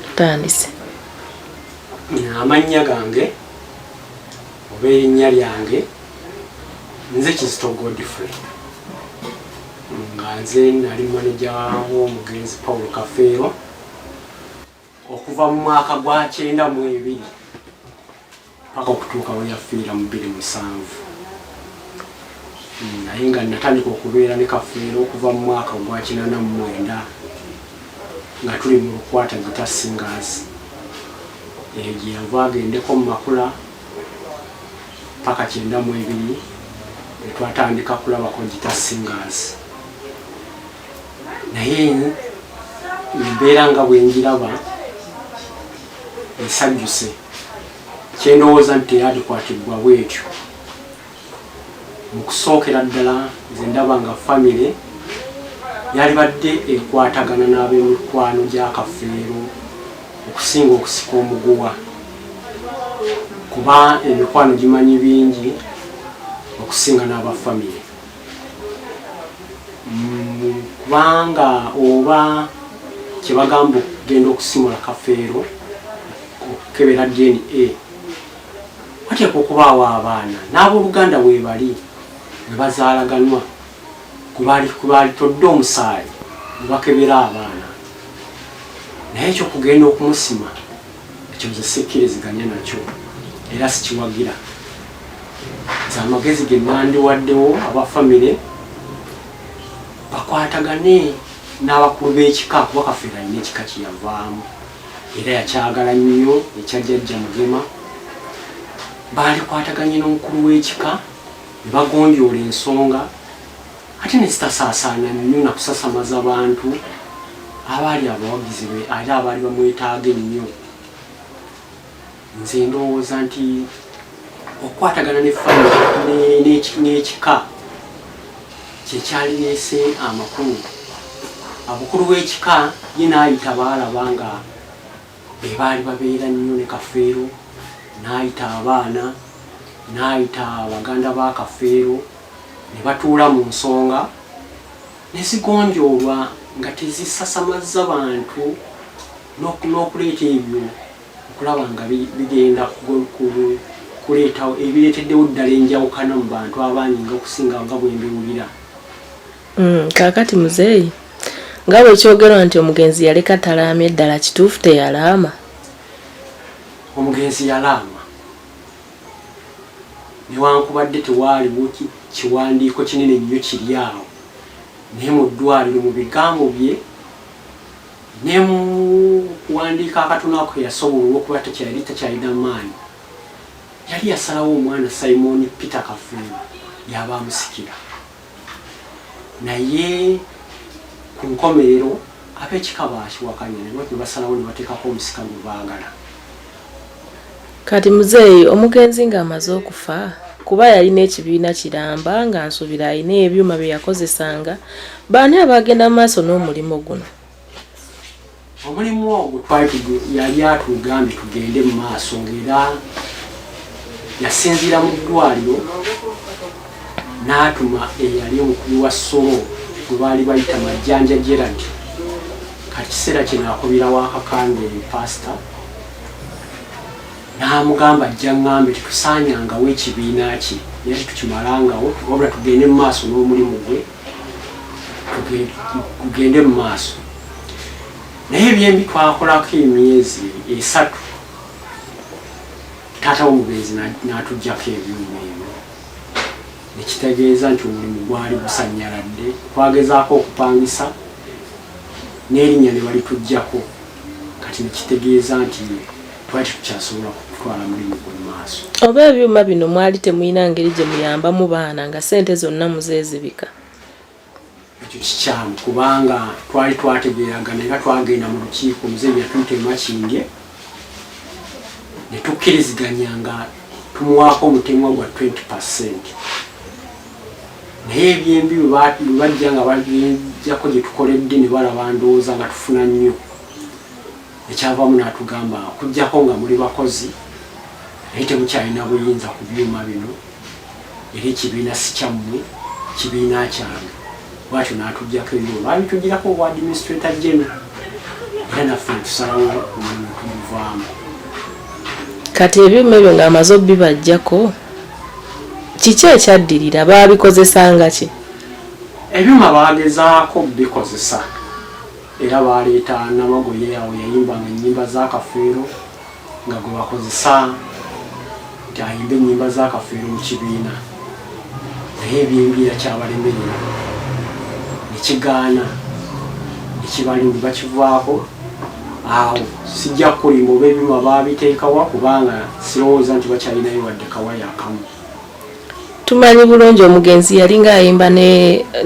tutandise amannya gange oba erinnya lyange nze kizito godfrey nga nze nali maneja w'omugenzi paul kafeero okuva mu mwaka gwa kyenda mu ebiri paka okutuuka we yafiira mu bbiri musanvu naye nga natandika okubeera ne kafeero okuva mu mwaka ogwakinana mu mwenda nga tuli mu lukwata gita singers eyo gye yava agendeko mu makula paka kyenda mu ebiri etwatandika kulabako gita singers naye embeera nga bwenjiraba esajjuse kyendowooza nti teyadikwatibbwa bwetyo mukusookera ddala nze ndaba nga famire yalibadde ekwatagana n'abemikwano gya kafeero okusinga okusika omuguwa kuba emikwano gimanyi bingi okusinga n'aba famire mm, kubanga oba kyebagamba okugenda okusimula kafeero okukebera dna wateeka okubaawo abaana n'abooluganda weebali we bazaalaganwa kubalitodde omusaayi ne bakebera abaana naye ekyo kugenda okumusima ekyo nze sikkiriziganya nakyo era sikiwagira nze amagezi ge nandiwaddewo aba famire bakwatagane n'abakulu b'ekika kuba kafeera alina ekika kyeyavaamu era yakyagala nnyo ekya jjajja mugema baalikwataganye n'omukulu w'ekika ne bagonjoola ensonga ate ne zitasaasaana nnyo na kusasamaza bantu abaali abawagizi be ate abaali bamwetaaga ennyo nze ndowooza nti okukwatagana ne famire n'ekika kyekyalireese amakulu abukulu bw'ekika ye n'ayita baalaba nga be baali babeera nnyo ne kafeero n'ayita abaana n'ayita abaganda ba kafeero ne batuula mu nsonga ne zigonjoolwa nga tezisasamazza bantu n'okuleeta ebyo okulaba nga bigenda kuleetawo ebireeteddewo ddala enjawukana mu bantu abangi nga okusinga nga bwe mbiwulira mm, kaakati muzeeyi nga bwe kyogerwa nti omugenzi yaleka talaamye ddala kituufu teyalaama omugenzi yalaama newankubadde tewaaliwo kiwandiiko kinene nnyo kiri awo naye mu ddwaliro mu bigambo bye ne mu kuwandiika akatono ako ke yasobola olw'okuba tekyali takyalina maanyi, yali yasalawo omwana Simooni Peter Kafeero y'aba amusikira. Naye ku nkomerero, ab'ekika baakiwakanya ne basalawo ne bateekako omusika gwe baagala. Kati muzeeyi omugenzi nga amaze okufa kuba yalina ekibiina kiramba nga nsubira alina ebyuma byeyakozesanga baani abagenda mumaaso n'omulimu guno. Omulimu ogwo twali yali atugambye tugende mu maaso ng'era yasinziira mu ddwaliro n'atuma eyali omukulu wa solo gwe baali bayita majjanja gerald kati kiseera kino akubira wakakande pasita n'amugamba ajja ŋŋambe tetusaanyangawo ekibiina kye naye tetukimalangawo wabula tugende mu maaso n'omulimu gwe tugende mu maaso naye ebyembi twakolako emyezi esatu taata womugenzi n'atugyako ebyuma ebyo nekitegeeza nti omulimu gwali gusanyaladde twagezaako okupangisa n'erinnya ne balitugyako kati nekitegeeza nti twali tukyasobola kutwala mulimu gwe maaso oba ebyuma bino mwali temulina ngeri gye muyambamu baana nga sente zonna muzezibika ekyo kikyamu kubanga twali twategeeragana era twagenda mu lukiiko muze yatuyita emakinge netukkiriziganya nga tumuwaako omutemwa gwa 20 percent naye ebyembi webajja nga bajako gyetukoledde nebalaba ndowooza nga tufuna nnyo ekyavamu natugamba okujjako nga muli bakozi naye temukyalina buyinza ku byuma bino era ekibiina sikyammwe kibiina kyange bwatyo natujjako ebyuma babitugirako obwa administrator general era naffe tusalawo omulimu tumuvaamu kati ebyuma ebyo ngaamaze obibajjako Kiki ekyaddirira? Baabikozesanga ki? Ebyuma baagezaako bikozesa era baaleeta Namagoye awo yayimbanga ennyimba za Kafeero nga gwe bakozesa nti ayimba ennyimba za Kafeero mu kibiina naye ebyembiira kyabalemerera ne kigaana ne kibalimba kivaako. awo sijja kulimba oba ebyuma baabiteekawa kubanga sirowooza nti bakyalinayo wadde kawaya akamu tumanyi bulungi omugenzi yali ng'ayimba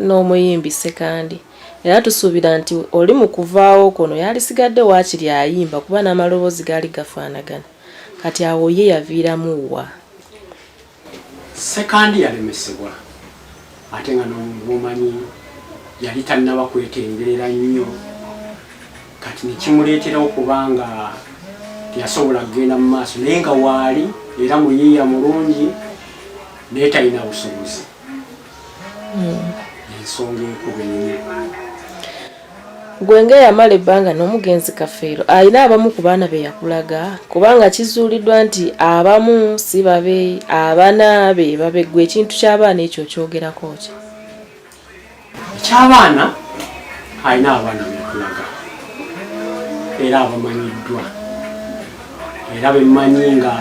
n'omuyimbi sekandi era tusuubira nti oli mu kuvaawo kuno yalisigadde waakiri ayimba kuba n'amaloboozi gaali gafaanagana kati awo ye yaviiramu wa Sekandi yalemesebwa ate nga nomumanyi yali tannaba kwetengerera nnyo kati nekimuleetera okuba nga teyasobola kugenda mu maaso naye nga waali era muyiiya mulungi naye talina busobozi hmm. ensonga enkuba ennyo Ggwe ng'eyamala ebbanga n'omugenzi Kafeero alina abamu ku baana be yakulaga? Kubanga kizuuliddwa nti abamu si babe, abana be babe. Ggwe ekintu ky'abaana ekyo okyogerako ki? Eky'abaana alina abaana be yakulaga era abamanyiddwa era be mmanyi nga.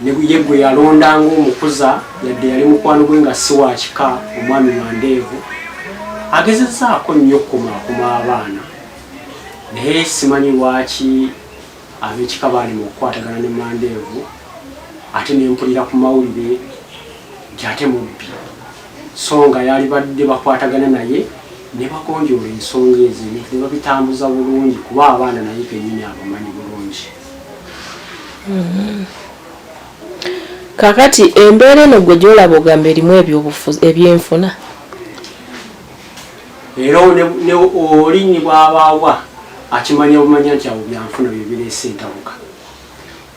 ne ye gwe yalonda ng'omukuza yadde yali mukwano gwe nga si wakika omwami wandeevu agezezaako nnyo okukumaakuma abaana naye simanyi lwaki abekika baali mu okukwatagana ne mandeevu ate nempulira ku mawulire nti ate mubbi so nga yali badde bakwatagana naye ne bagonjoola ensonga ezo ne babitambuza bulungi kuba abaana naye kenyini abamanyi bulungi Mm-hmm. kakati embeera eno gwe gyolaba ogamba erimu ebyobufuzi ebyenfuna era oli ni bwabaawa akimanya bumanya nti abo byanfuna byebireese entabuka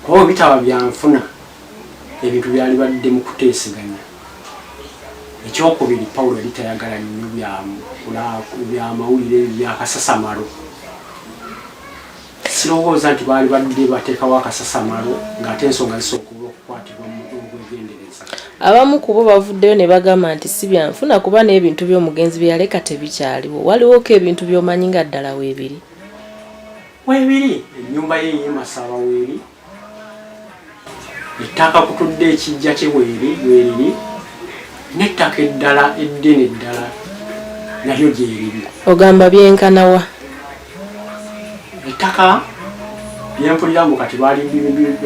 kuba bitaba byanfuna ebintu byali badde mu kuteeseganya ekyokubiri pawulo yali tayagala nnyo byamawulire byakasasamalo Sirowooza nti baali badde bateekawo akasasamalo ng'ate ensonga zisobola okukwatibwa mu obwegendereza. Abamu ku bo bavuddeyo ne bagamba nti si byanfuna kuba n'ebintu by'omugenzi bye yaleka tebikyaliwo. Waliwoko ebintu by'omanyi nga ddala weebiri? Weebiri, ennyumba ye ey'e Masaba weeri, ettaka kutudde ekijja kye bweriri bweriri n'ettaka eddala eddene eddala nalyo gyeriri ogamba byenkanawa ettaka lyempulira mbu kati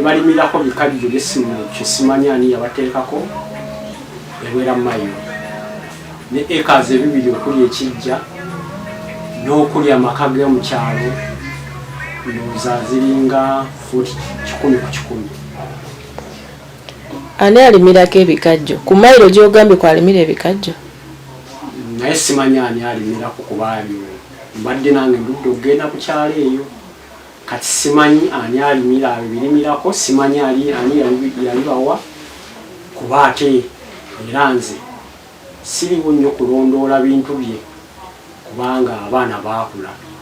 balimirako bikajjo byesimu kyesimanya ani yabateekako ebwera mayo ne acres ebibiri okuli ekijja n'okuli amaka g'omu kyalo ndowooza ziringa fuuti kikumi ku kikumi ani alimirako ebikajjo ku mayiro gyogambye kwalimira ebikajjo naye simanya ani alimirako kubaali mbadde nange ndudde okugenda ku kyalo eyo kati simanyi ani alimira abo birimirako simanyi ali ani yalibawa kuba ate era nze siriwo nnyo kulondoola bintu bye kubanga abaana baakula